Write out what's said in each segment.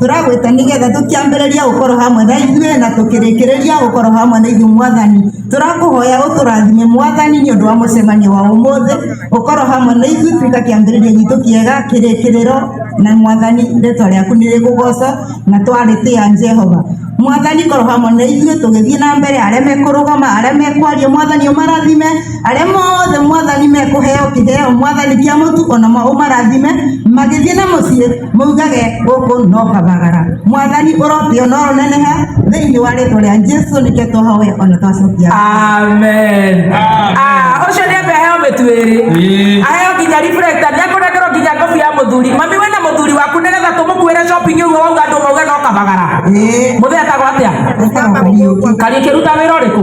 tũragwĩta nĩgetha tũkĩambĩrĩria gũkorwo hamwe na ithuĩ na tũkĩrĩkĩrĩria gũkorwo hamwe na ithuĩ mwathani tũrakũhoya ũtũrathime mwathani nĩ ũndũ wa mũcemanio wa ũmũthĩ ũkorwo hamwe na ithuĩ tuĩka kĩambĩrĩria gitũ kĩega kĩrĩkĩrĩro na mwathani rĩtwa rĩaku nĩ rĩgũgoco na twarĩtĩa jehova mwathani korwo hamwe na ithuĩ tũgĩthiĩ na mbere arĩa mekũrũgama arĩa mekwaria mwathani ũmarathime arĩa mothe mwathani mekũheo kĩheo mwathani kĩa mũtu ona mo ũmarathime magĩthiĩ na mũciĩ maugage gũkũ no kabagara mwathani ũrotio no rũneneha thĩinĩ wa rĩtwa rĩa jesu nĩkĩo twahoe ona twacokia amen Ah, ũcio nĩ ambe aheo mĩtu ĩrĩ Ĩĩ. aheo nginya reflect nĩ akũrengerwo nginya ngobi ya mũthuri mami we na mũthuri waku nĩgetha tũmũkuĩre shopping ũguo wauga andũ mauge no kabagara Ĩĩ. mũthee atagwo atĩa Etagwo Kariũki. kariĩ kĩruta wĩra ũrĩkũ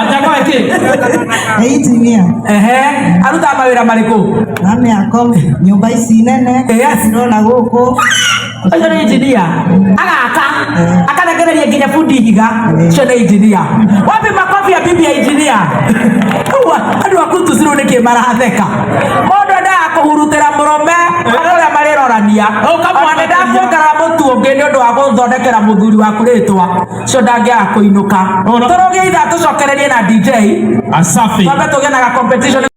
atakwa kä eitimia arutaga mawä ra marä kå na mä ako nyå mba ici nene cirona gå kå ũcio nĩ injinia agaka akarekereria nginya bundi ihiga ũcio nĩ injinia wapi makobi ya bibi ya injinia Ũguo, andũ aku tucirũ nĩ kĩ maratheka mũndũ endaga kũhurutĩra mũrũme arĩa ũrĩa marĩrorania ũkamwanendaga kuongerera mũtu ũngĩ nĩ ũndũ wa gũthondekera mũthuri waku rĩtwa cio ndangĩaga kũinũka tũrũgĩitha tũcokererie na dj Asafi. twambe tũgĩe na ga competition